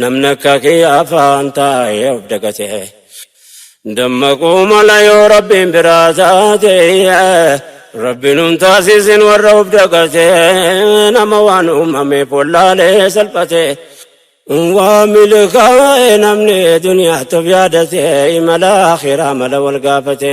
Namni akka kiyya afaan taa'ee of dagate. Dammaquu mala yoo rabbiin biraa taate. Rabbiin hin taasisin warra of dagate. Nama waan uumame follaalee salphate. Waa milkaa'e namni duniyaatti of yaadate. Imala akhiraa mala wal gaafate.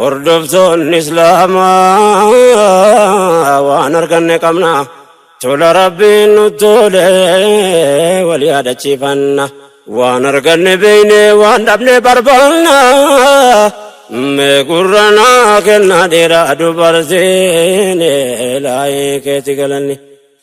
Hordoftoonni Islaamaa waan arganne qabna. Tola Rabbiin nu tole wal yaadachiifanna. Waan arganne beeyne waan dhabne barbaanna. Mee gurra naa kenna dhiira dubartiin laayee keeti galanni.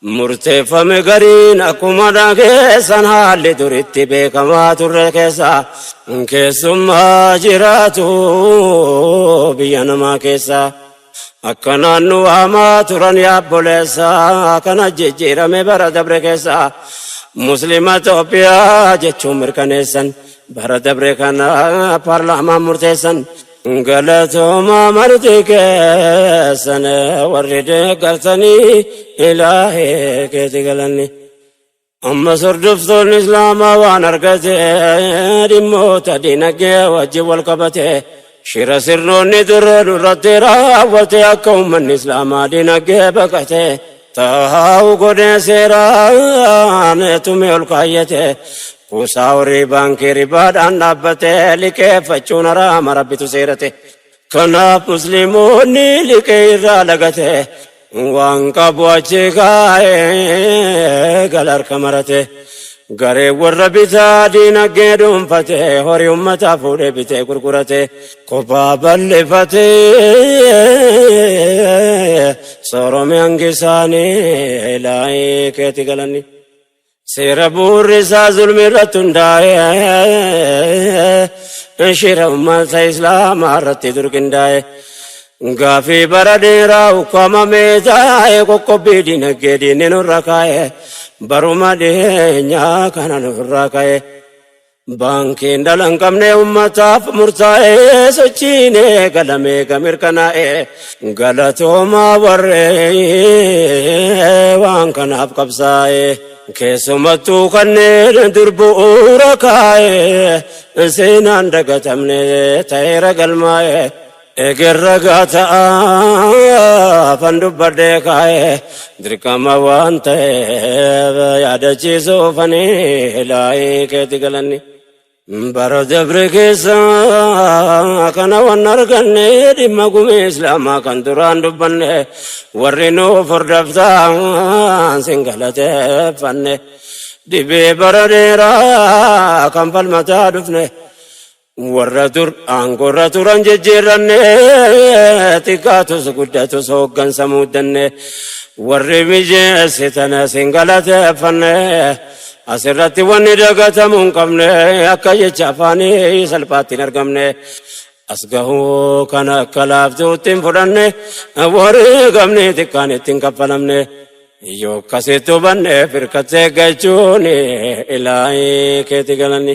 Murteeffame gariin akkuma dhageessan haalli duritti beekamaa turre keessa keessummaa jiraatu biyya namaa keessa akka naannu waamaa turan yaabboleessa kana jijjiirame bara dabre keessa muslima Itoophiyaa jechuun mirkaneessan bara dabre kana paarlaamaan murteessan Galatooma marti keessan warri deeggartanii ilaahee keeti galanni. Amma sordoftoon islaamaa waan argate dhimmoota dinagdee wajjin wal qabate shira sirnoonni dura duratti raawwate akka uummanni islaamaa dinagdee baqate taa'u godhee seeraan tumee ol kaayyate Kuusaa horii baankii ribaadhaan dhaabbate liqeeffachuun haraama rabbitu seerate. Kanaaf musliimoonni liqee irraa lagate waan qabu achi kaa'ee gala harka marate. Garee warra bitaa diinagdee dhuunfate horii ummataa fuudhee bitee gurgurate. Kophaa bal'ifate soorome hangi isaanii laayii keetti galanni. Seera bu'uurri isaa zulmi irratti hundaa'e shira ummata islaamaa irratti dur qindaa'e gaafii bara dheeraa ukkaamamee taa'e qoqqobbii dinagdee diinni nurra kaa'e baruma dhiyeenyaa kana nurra ka'e. Baankiin dhala hin qabne ummataaf murtaa'ee sochiin eegalame eega mirkanaa'e galatoomaa warree waan kanaaf qabsaa'e keessumattuu kanneen dur bu'uura kaa'e seenaan dagatamne ta'eera galmaa'e Eger ragaa ta'aafan dubbadhee kaa'e dirqama waan ta'eef yaadachiisuufani ilaahii keeti galanni. Bara dabre keessa kana waan arganne dhimma gumii islaamaa kan duraan dubbanne warri nuuf hordoftaan sin galateeffanne dhibee bara dheeraa kan falmataa dhufne. Warra dur aangorra turan jijjiirranne xiqqaatus guddatus hooggansa muuddanne warri mijeessitan isin galateeffanne asirratti wanni dagatamuu hin qabne akka jecha afaanii salphaatti hin argamne as gahuu kan akka laaftuutti hin fudhanne warri gamni xiqqaan itti hin kaffalamne yoo akkasitti hubanne firkattee gachuun ilaahi keeti galanni.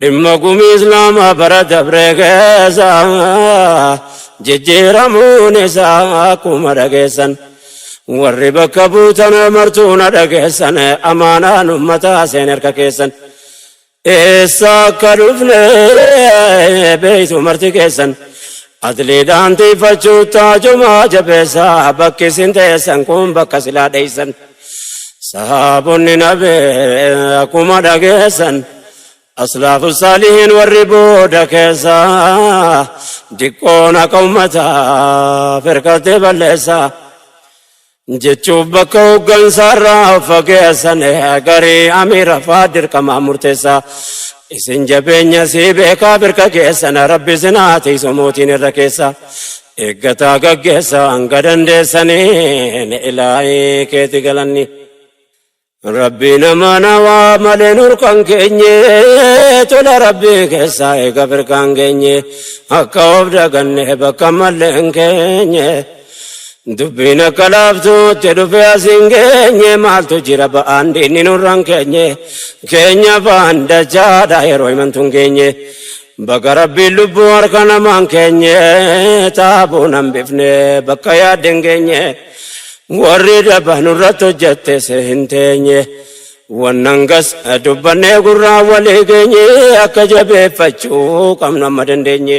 Dhimma gumii Islaamaa bara dabree keessa jijjiiramuun isaa akkuma dhageessan warri bakka buutan martuu na dhageessan amaanaan ummataa seen harka keessan eessa akka dhufne beeytu marti keessan adliidhaan tiiffachuu taajumaa jabeessa bakki isin teessan kun bakka silaa dheeysan. Sahaabonni nabee akkuma dhageessan aslaafu saalihiin warri booda keessa diqqoon akka ummataa firkattee balleessa jechuuf bakka hooggansaarraa fageessan garii amiira faa dirqamaa murteessa Isin jabeenya sii beekaa birka keessan rabbi isin haa tiisu mootiin irra keessa eeggataa gaggeessa hanga dandeessaniin ilaahii keeti galanni rabbii nama nawaa malee nurkan keenye tola rabbii keessaa eega birkaan geenye akka of daganne bakka malleen keenye. Dubbiin akka laaftuutti dhufe as hin geenye maaltu jira ba'aan diinni nurraan keenye keenya ba'aan dachaadha yeroo himantuun keenye baga rabbiin lubbuu harka namaan keenye taabuu nan bifne bakka yaadde hin geenye warri daba nurratti hojjette se hin teenye wannan gas dubbannee gurraa walii geenye akka jabeeffachuu qabnu amma dandeenye.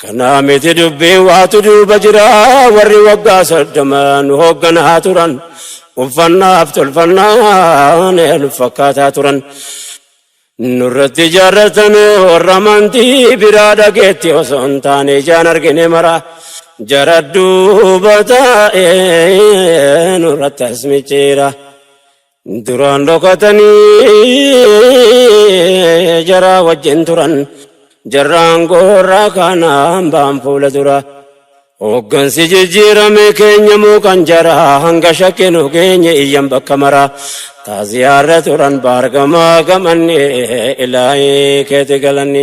Kana miti dubbiin waatu duuba jira warri waggaa soddoma nu hoogganaa turan uffannaaf tolfannaan nu fakkaataa turan. Nurratti ijaarratan warra amantii biraa dhageetti osoo hin taane ijaan argine mara jara duuba taa'ee nurratti as micciira. Duraan dhokatanii jaraa wajjin turan jarraan goorraa kaanaan baan fuula dura. Hooggansi jijjiirame keenya moo kan jaraa hanga shakkinu keenya iyyan bakka mara. Taaziyaarra turan baargamaa gamanne ilaahii keeti galanni.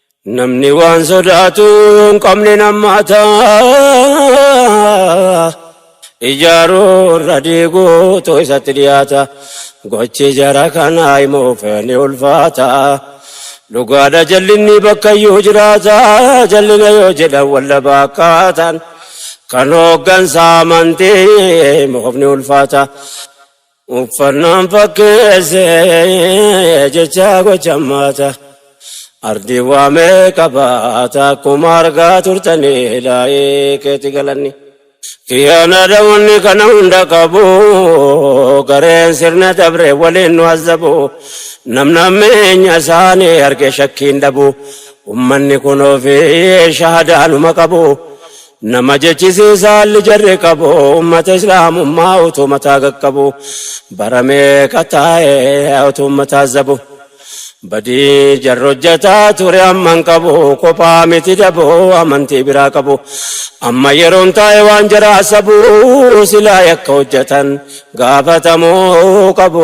Namni waan sodaatu hin qabne nammaata. Ijaaruu irra diiguutu isatti dhiyaata. Gochi jara kanaa immoo feene ulfaata. Dhugaadha jallinni bakkayyuu jiraata. Jallina yoo jedhan wallaba akkaataan. Kan hooggansa amantii moofni ulfaata. Uffannaan fakkeesse jecha gocha maata. Ardii waa meeqa baata akkuma argaa turtanii laayee keetti galanni. Kiyana da wani kana hunda qabu gareen sirna dabre waliin nu azabu namna meenya isaanii arge shakkiin dhabu ummanni kun ofii shahadaa numa qabu Nama jechisiisa haalli jarri qabu ummata islaamummaa utuu mataa qaqqabu bara meeqa taa'e utuu ummataa zabu badii jarri hojjataa ture amman qabu kophaa miti dabu amantii biraa qabu amma yeroon taa'e waan jaraa sabu silaa yakka hojjatan gaafatamuu qabu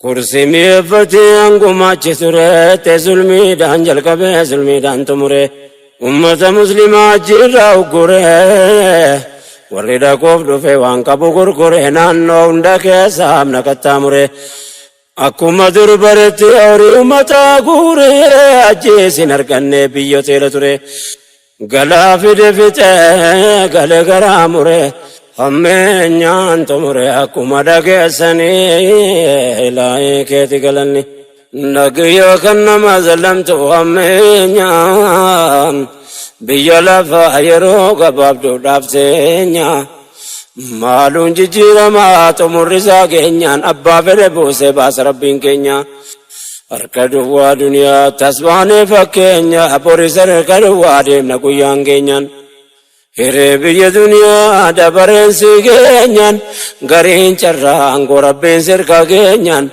Kursii mi'eeffatee hangumaachi ture te zulmiidhaan jalqabee zulmiidhaan xumure ummata muslimaa ajjiirraa uggure warri dhaquuf dhufe waan qabu gurgure naannoo hunda keessa amna qaxxaamure akkuma dur baretti horii ummataa guure ajjeesin arganne biyyoteela ture. Galaa fide fixee gale garaa mure hammeenyaan xumure akkuma dhageessanii ilaahii keeti galanni. Nagiyoo kan nama zalamtu hammeenyaan biyya lafaa yeroo gabaabduudhaaf teenya. Maaluun jijjiiramaa xumurri isaa keenyaan abbaa fedhe buusee baasa rabbiin keenya. Harka duwwaa duniyaa tasbaanee fakkeenya boris harka duwwaa deemna guyyaan keenyaan. Hiree biyya duniyaa dabareen si keenyaan gariin carraan gorabbiin sirka keenyaan.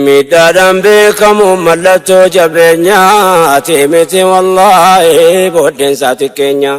Miidhaadhaan beekamu mallattoo jabeenyaa ati miti wallaahi booddeensaa xiqqeenyaa.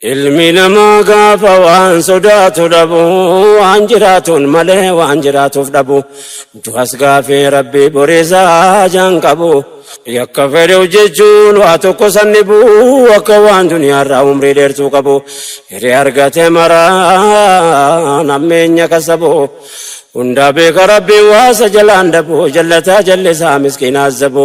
Ilmi namaa gaafa waan sodaatu dhabu waan jiraatuun malee waan jiraatuuf dhabu du'as gaafii rabbii borisaa jaan qabu yakka fedhe hojjechuun waa tokko san dhibu akka waan duniyaarraa umrii dheertuu qabu hiree argate maraa nammeenya kasabu hundaa beeka rabbii waasa jalaan dhabu jallataa jallisaa miskiinaa zabu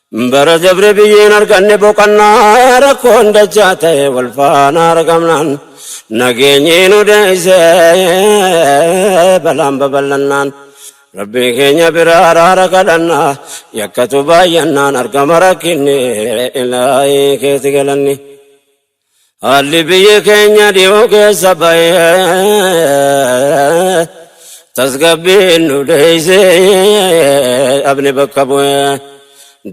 Bara dabre biyyeen arganne boqannaa rakkoon dachaa ta'e wal faana argamnaan nageenyi nu deeyse balaan babal'annaan rabbii keenya biraa araara kadhannaa yakkatu baay'annaan argama rakkinni ilaahii keeti galanni. Haalli biyyi keenya dhiyoo keessa bahee tasgabbiin nu deeysee dhabne bakka bu'ee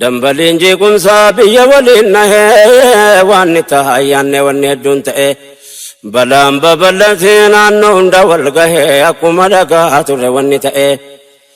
dambaliin jeequmsaa biyya waliin nahee waan ni taha yaanne wanni hedduun ta'e balaan babal'atee naannoo hunda wal gahee akkuma dhagaa ture wanni ta'e.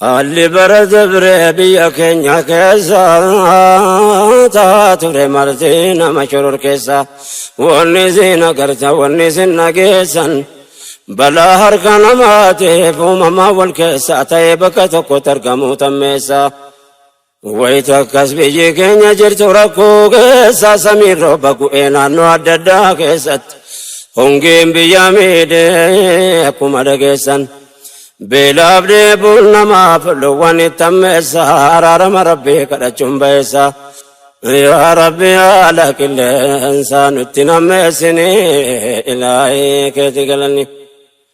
Haalli bara dabree biyya keenya keessa taa ture marti nama shororkeessa. Wanni isin agartan wanni isin dhageessan balaa harka namaatiif uumamaa wal keessa ta'ee bakka tokkotti argamuu tammeessa. Wayita akkas biyyi keenya jirtu rakkoo keessa samiin rooba gu'ee naannoo adda addaa keessatti hongeen biyya miidhee akkuma dhageessan beelaaf dheebuun namaaf loowwan itti ammeessa araarama rabbii kadhachuun ba'eessa. Yaa rabbi haala qilleensaa nutti nammeessini ilaahii keeti galanni.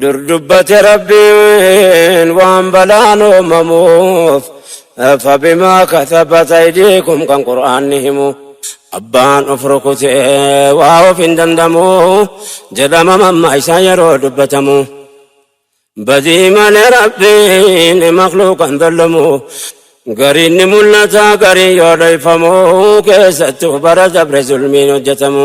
Dur dubbate Rabbiin waan balaan uumamuuf fabimaa katabat aydiikum kan qur'aanni himu abbaan of rukute waa of hin dandamu jedhama mamma isaa yeroo dubbatamu badii malee Rabbiin makluuqan dallamu gariin ni mul'ata gariin yoo dhayfamu keessattuu bara dabre zulmiin hojjetamu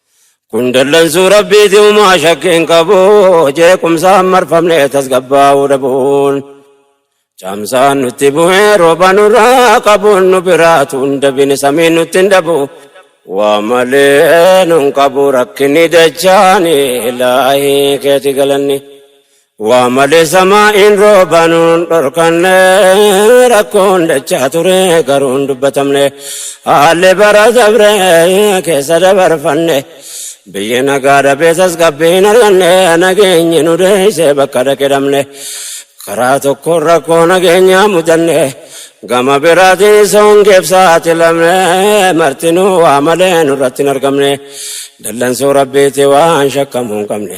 Kun dallansuu rabbiiti uumaa shakkiin qabu jeequmsaan marfamnee tasgabbaa'uu dhabuun. Caamsaan nutti bu'ee rooba nurraa qabuun nu biraatu hin dabine samiin nutti hin dhabu. Waa malee nun qabu rakkinni dachaani ilaahii keeti galanni. Waa malee samaa'iin rooba nuun dhorkanne rakkoon dachaa ture garuu hin dubbatamne haalli bara dabre keessa dabarfanne biyyi nagaa dhabee tasgabbii hin arganne nageenyi nu deessee bakka dhaqedhamne karaa tokkoon rakkoo nageenyaa mudanne gama biraatiin soongeef saaxilamne martinuu waa malee nurratti hin argamne dallansuu rabbiiti waan shakkamuu hin qabne.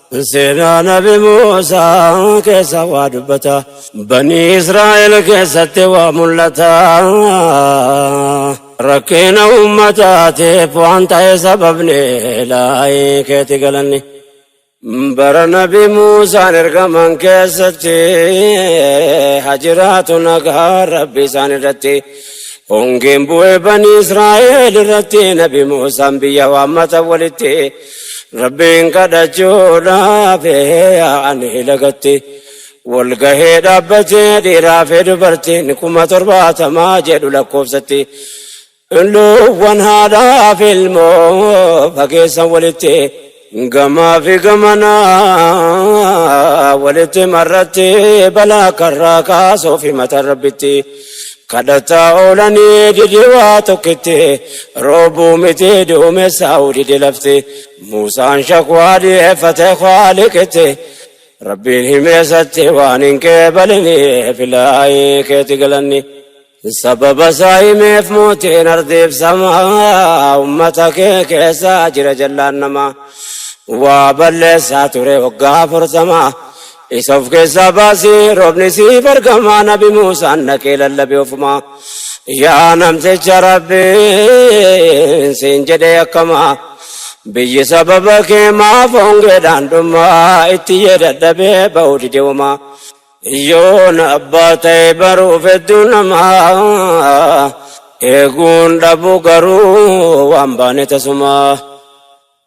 Seenaa nabi Muusaa keessa waa dubbata. Banii Israa'el keessatti waa mul'ata. Rakkina uummataatiif waan ta'e sababni laayii keeti galanni. Bara nabi Muusaan ergaman keessatti hajiraatu nagaa rabbi isaan irratti. Hongeen bu'ee banii Israa'el irratti nabi Muusaan biyya waammata walitti. Rabbiin kadhachuudhaaf yaa'anii lagatti wal gahee dhaabbatee dhiiraa fi dubartiin kuma torbaatamaa jedhu lakkoofsatti. Luuwwan haadhaa fi ilmoo fageessan walitti gamaa fi gamanaa walitti marratti balaa karraa kaasuu fi mata rabbitti. Kadhataa oolanii dide waa tokkitti, roobuu miti duumessaa'uu dide lafti. Muusaan shakwaa dhiyeeffate Khaaliqitti, Rabbiin himeesatti waan hin qeebaliniif ilaahii keeti galanni. Sababa isaa himeef mootiin ardiif samaa, ummata kee keessa jira jallaan namaa. Waa balleessaa ture waggaa afurtamaa, Isa of keessaa baasi roobni siif argama nabi Muusaan dhaqee lallabe ofuma. Yaa namticha rabbiin siin jedhee akkama. Biyyi sababa kee maaf hongeedhaan dhuma itti yee dadhabee ba'uu dide wama. Yoon abbaa ta'e baruuf hedduu nama eeguun dhabuu garuu waan baane tasuma.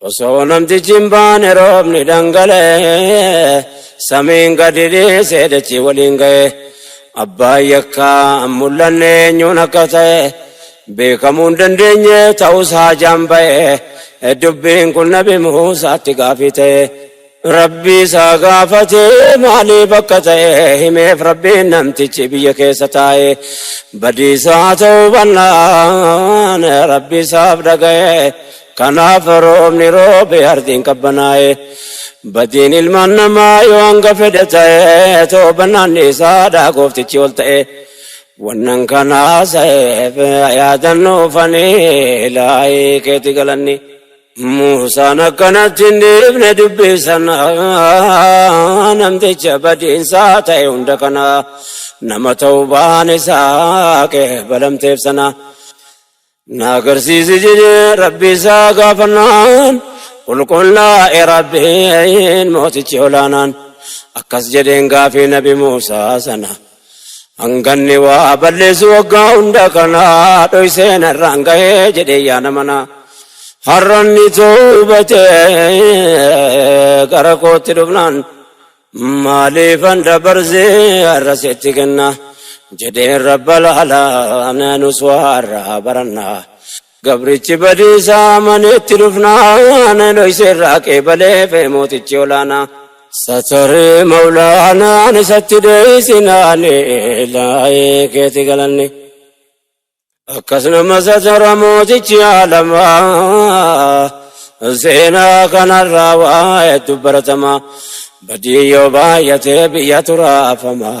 Osoo namtichi hin baane roobni dhangala'e samiin gadi dhiisee dachii waliin ga'e abbaan yakkaa hin mul'anne eenyuun akka ta'e beekamuu hin dandeenye ta'us haajaan ba'e dubbiin kun nabi Muusaatti gaafii ta'e. Rabbi isa gaafate maalii bakka ta'e himeef rabbiin namtichi biyya keessa taa'e badiisaa ta'uu bannaan rabbi isaaf dhaga'e kanaaf roobni roobe ardiin qabbanaa'e badiin ilmaan namaa yoo hanga fedhe ta'e toobannaan isaadha gooftichi ol ta'e wannan kanaa sa'eef yaadannuufanii laayii keeti galanni. Muusaan akkanatti hin dhiifne dubbii sana namticha badiinsaa ta'e hunda kana nama ta'uu baan isaa qeebalamteef sana na agarsiisi jedhee rabbii isaa gaafannaan qulqullaa'e rabbiin mootichi olaanaan akkas jedheen gaafii nabi Muusaa sana. Hanganni waa balleessu waggaa hunda kana dhoysee narraan gahee jedhee yaada manaa. Har'anni toobate gara kootti dhufnaan maaliifan dabarsee har'a sitti kenna jedheen rabba laala nus waa har'aa barannaa. Gabrichi badiisa amanee itti dhufnaan dhoyse irraa qeebaleef mootichi olaanaa. Sataree mawlaanaan isatti dheeysinaan ilaa'ee keeti galanne. Akkas nama satara mootichi aalamaa seenaa kanarraa waa hedduu baratamaa badii yoo baay'atee biyya turaafamaa.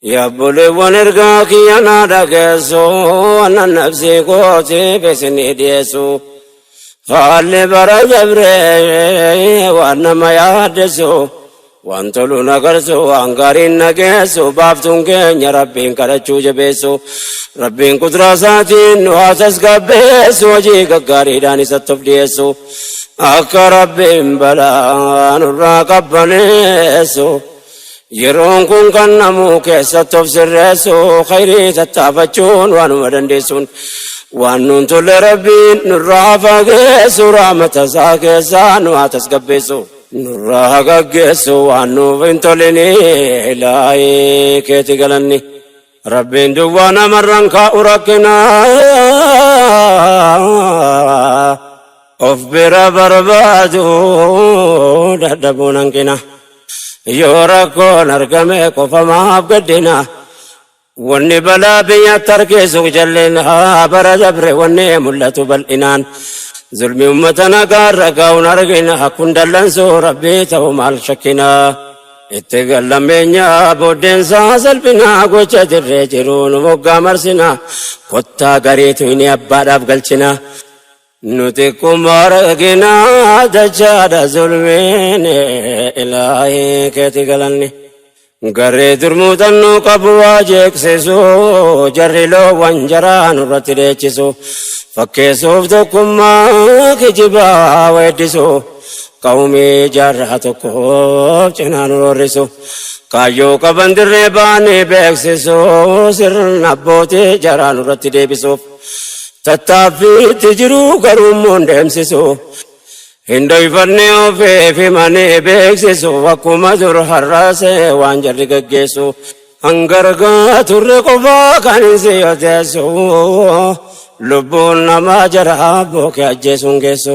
Yaa obboleewwan ergaa kiyya naa dhageessu annan nafsii kootiif isinii dhiyeessu. Haalli bara dabree waan nama yaaddessu waan tolu na garsu waan gaariin na geessu baaftuun keenya rabbiin kadhachuu jabeessu. Rabbiin qudraa isaatiin nu haa tasgabbeessu hojii gaggaariidhaan isatti of dhiyeessu. Akka rabbiin balaa nurraa qabbaneessu. Yeroon kun kan namuu keessatti of sirreessu khayrii tattaafachuun waanuma dandeessuun waan nuun tolle rabbiin nurraa fageessu rahmata isaa keessaa nu haa tasgabbeessu. Nurraa haa gaggeessu waan nuuf hin tolinii ilaahii keeti galanni. Rabbiin duwwaa namarraan kaa'u rakkina of bira barbaadu dadhabuun hanqina yoo rakkoon argame qofa maaf gaddina wanni balaa biyya tarkeessu jalleen haa bara dabre wanni mul'atu bal'inaan zulmi ummata nagaa irra gaa'uun argina kun dallansuu rabbii ta'u maal shakkina. Itti gallameenyaa booddeensaa salphinaa gocha dirree jiruun moggaa marsinaa kottaa gariitu inni abbaadhaaf galchinaa nuti kummaa raginaa dachaadha zulmiin ilaahii keeti galanni garee durmuutannuu qabu waa jeeksisu jarri loowwan jaraa nurratti dheechisu fakkeessuuf tokkummaa kijibaa weeddisu. Qawmii jaarraa tokkoof cinaan roorrisu. Kaayyoo qaban dirree baanii beeksisu. Sirna abbootii jaraa nurratti deebisuuf. Tattaaffiitti jiru garuu immoo hin deemsisu. Hin dhoyfanne ofiif himanii beeksisu. Akkuma dur har'aasee waan jarri gaggeessu. Hangargaa turre qofaa kan hin siyoteessu. Lubbuun namaa jaraa bookee ajjeesuun geessu.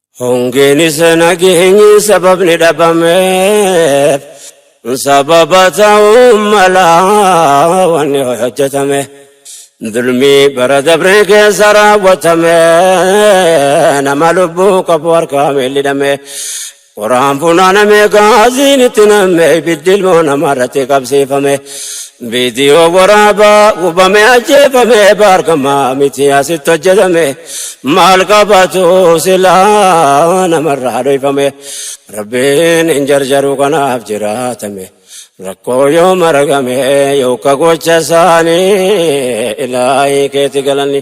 Hongeenis nageenyi sababni dhabameef sababa ta'uu mala wanni hojjetame. Dulmii bara dabree keessa raawwatame nama lubbuu qabu harkaa miidhidhame. Qoraan funaaname gaaziin itti namme ibiddi ilmoo namaa irratti qabsiifame. Viidiyoo waraabaa gubame ajjeefame baargama miti asitti hojjetame maal qabatu silaa namarraa dhoyfame rabbiin hin jarjaru kanaaf jiraatame rakkoo yoo maragame yooka gocha isaanii ilaahii keeti galanni.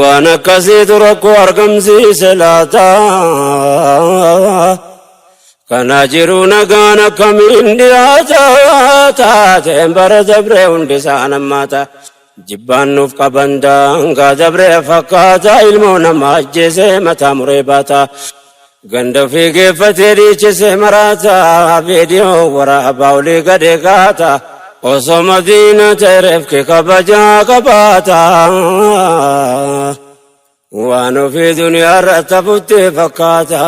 Waan akkasiitu rakkoo argamsiise laata. Kana jiru nagaan akkamiin dhiyaata taateen bara dabree hundi isaan ammaata. Jibbaan nuuf qaban daangaa dabree fakkaata ilmoo namaa ajjeesee mataa muree baata. Ganda ofii geeffatee dhiichise maraata viidiyoo waraabaa olii gadi kaata osoo madiina ta'e reefki kabajaa qabaata waan ofii duniyaa irratti hafutti fakkaata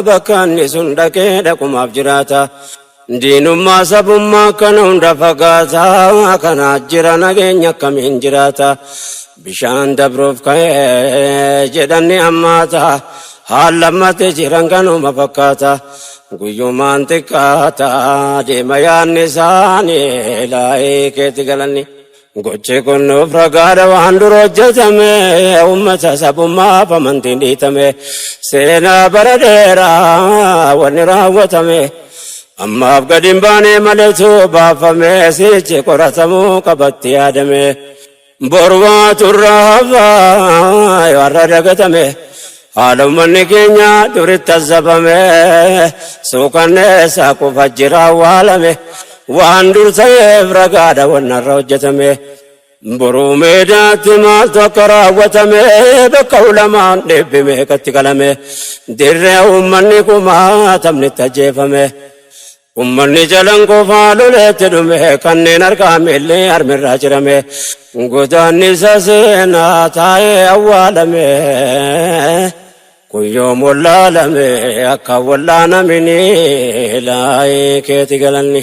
bakka inni sun dhaqee dhaqumaaf jiraata Diinummaa sabummaa kana hunda fagaataa kana jira nageenya akkamiin jiraata bishaan dabruuf ka'ee jedhanni ammaata haal lammate jiran kanuma fakkaata guyyumaan xiqqaata deema yaanni isaanii laa'ee keetti galanni. Gochi kun nuuf ragaadha waan dura hojjetame uummata sabummaaf amantiin dhiitame seenaa bara dheeraa wanni raawwatame ammaaf gadi hin baane maletu baafame sichi qoratamuu qabatti yaadame borwaa turraa hafaa yoo har'a dagatame. Haala ummanni keenya duritti azzabame suukanneessa kufa jira awwaalame waan dur ta'eef ragaadha wannarra hojjetame boruu meedaatti maaltu akka raawwatame bakka ulamaan dhibbi meeqatti qalame dirree ummanni kumaatamnitti ajjeefame Ummanni jalan qofaa loleetti dhume kanneen harkaa miilli harmirraa cirame godaannisa seenaa taa'ee awwaalame kun yoom wallaalame akka wallaanaminii laayee keeti galanni.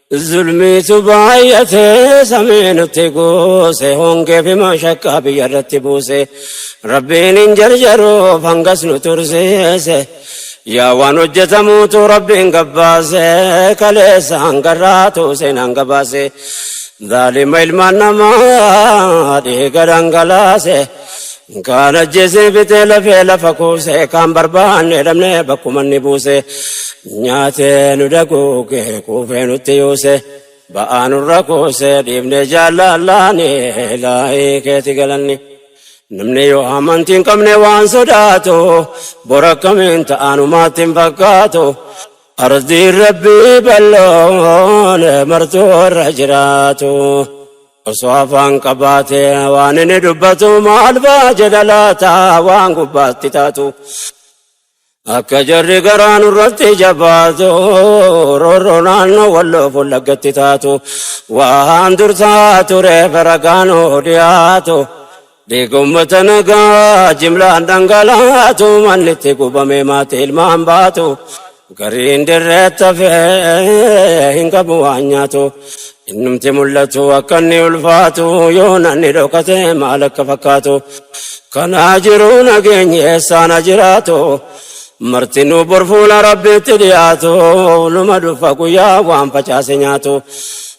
Zulmiitu baay'atee samii nutti goose hongee fi mashakkaa biyya irratti buuse rabbiin hin jarjaruuf hangas nu tursiise yaa waan hojjetamuutu rabbiin gabbaase kaleessa hangarraatu seenaan gabaase zaalima ilmaan namaa dhiiga dhangalaase. Kaan ajjeesee fixee lafee lafa kuusee kaan barbaannee dhabnee bakkuma ni buuse nyaatee nu daguugee kuufee nutti yuuse ba'aa nurra kuusee dhiibnee jaallallaanii laayii keeti galanni. Namni yoo amantii hin qabne waan sodaatu bor akkamiin ta'anumaatti hin fakkaatu ardiin rabbii balloon martuu irra jiraatu. Osoo afaan qabaate waan inni dubbatu maal ba'a jedha laata waan gubbaatti taatu. Akka jarri garaa nurratti jabaatu roorroo naannoo walloo fullaggatti taatu. Waan dursaa tureef ragaan hoo dhiyaatu Dhiiga ummata nagaa jimlaan dhangalaatu manni itti gubame maatii ilmaan baatu gariin dirreetti hafee hin qabu waan nyaatu innumti mul'atu akka inni ulfaatu yoo nanni dhokate maal akka fakkaatu kanaa jiru nageenyi eessaana jiraatu martinuu borfuula rabbiitti dhiyaatu numa dhufa guyyaa waan facaase nyaatu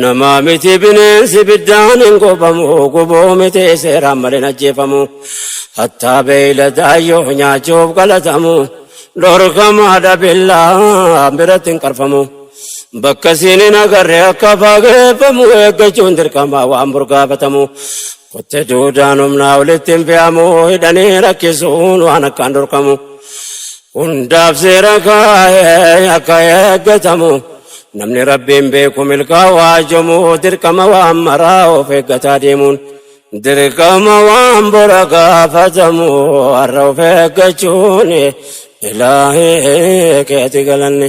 Namaa miti bineensi biddaan hin gubamu gubuu miti seeraan malee hin ajjeefamu. Hattaa beeyladaa yoo nyaachuuf galatamu dhorkamaadha billaa biratti hin qarfamu. Bakka siin hin agarre akka fageeffamu eeggachuun dirqamaa waan burgaafatamu. Kotte duudaan humnaa walitti hin fe'amu hidhanii rakkisuun waan akkaan dhorkamu. Hundaaf seera kaa'ee akka eeggatamu namni rabbiin beeku milkaawaa jomu dirqama waan maraa of eeggataa deemuun dirqama waan bora gaafatamu har'a of eeggachuun ilaahee keeti galanne.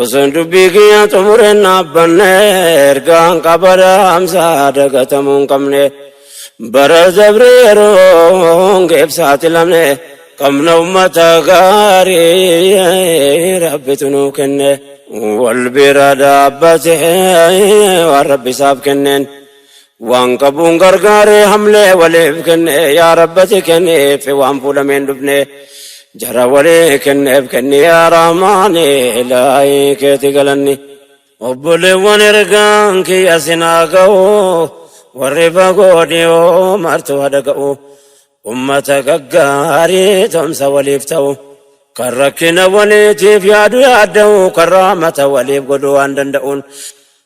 Osoon dubbii kiyya xumureen dhaabbanne ergaan qabada hamsaa dagatamuu hin qabne bara dabre yeroon geebsaati lamne qabna ummata gaarii rabbitu nuu kenne wal bira dhaabbate waan rabbi isaaf kenneen. Waan qabuun gargaaree hamlee waliif kennee yaa rabbati kenniif waan fuulameen dhufnee jara walii kenneef kenni yaa rahmaani ilaahii keeti galanni. Obboleewwan ergaan kiyya sinaa ga'u warri fagoo dhiyoo martu hada ga'u ummata gaggaarii tomsa waliif ta'u kan rakkina waliitiif yaadu yaadda'u kan rahmata waliif godhu waan danda'uun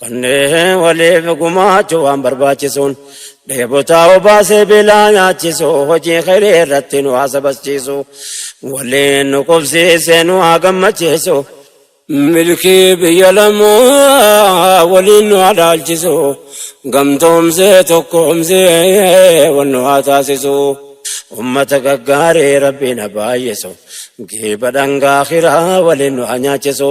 Kanneen waliif gumaachuu waan barbaachisuun dheebotaa obaasee beelaa nyaachisu hojii khayrii irratti nu haa sabachiisu waliin nu qubsiisee nu haa gammachiisu. Milkii biyya lamaa waliin nu haa dhaalchisu gamtoomsee tokkoomsee wal nu haa taasisu. Ummata gaggaarii rabbiin haa baay'isu giiba dhangaa khiraa waliin nu haa nyaachisu.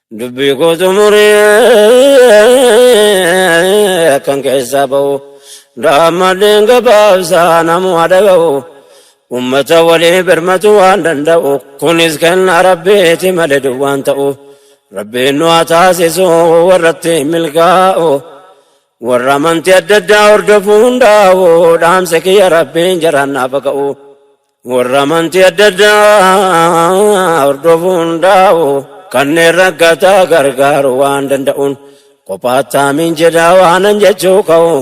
Dubbii koo xumuree akkan keessaa ba'u daammadheen gabaabsaa namuma dhaga'u ummata walii birmatu waan danda'u kunis kenna rabbiiti malee duwwaan ta'u rabbiin nu haa taasisu warratti milkaa'u warra amantii adda addaa hordofu hundaa'u dhaamsa kiyya rabbiin jaraan naaf haa ka'u. Warra amantii adda addaa hordofu hundaa'u kanneen rakkataa gargaaru waan danda'uun qophaataamiin jedhaa waanan jechuu ka'u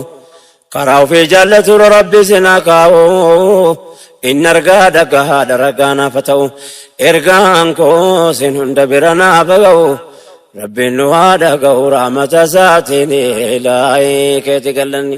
karaa ofii jaallatura rabbi sinaa kaa'u inni argaa dhagahaadha ragaa naafa ta'u ergaan koo sin hunda bira naafa ga'u rabbiin nu haa dhaga'u raamata isaatiin ilaahi keeti gallanni.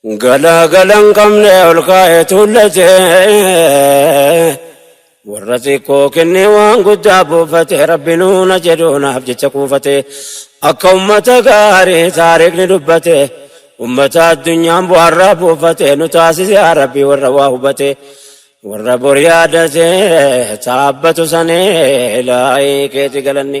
Galaagala hin qabne ol kaa'ee tuullate warra xiqqoo kennee waan guddaa buufate rabbi nuuna jedhuunaaf jecha kuufate akka ummata gaarii taariikni dubbate ummata addunyaan bu'aarraa buufate nu taasise rabbi warra waa hubate warra bor yaadate taabbatu sanee laayii keeti galanni.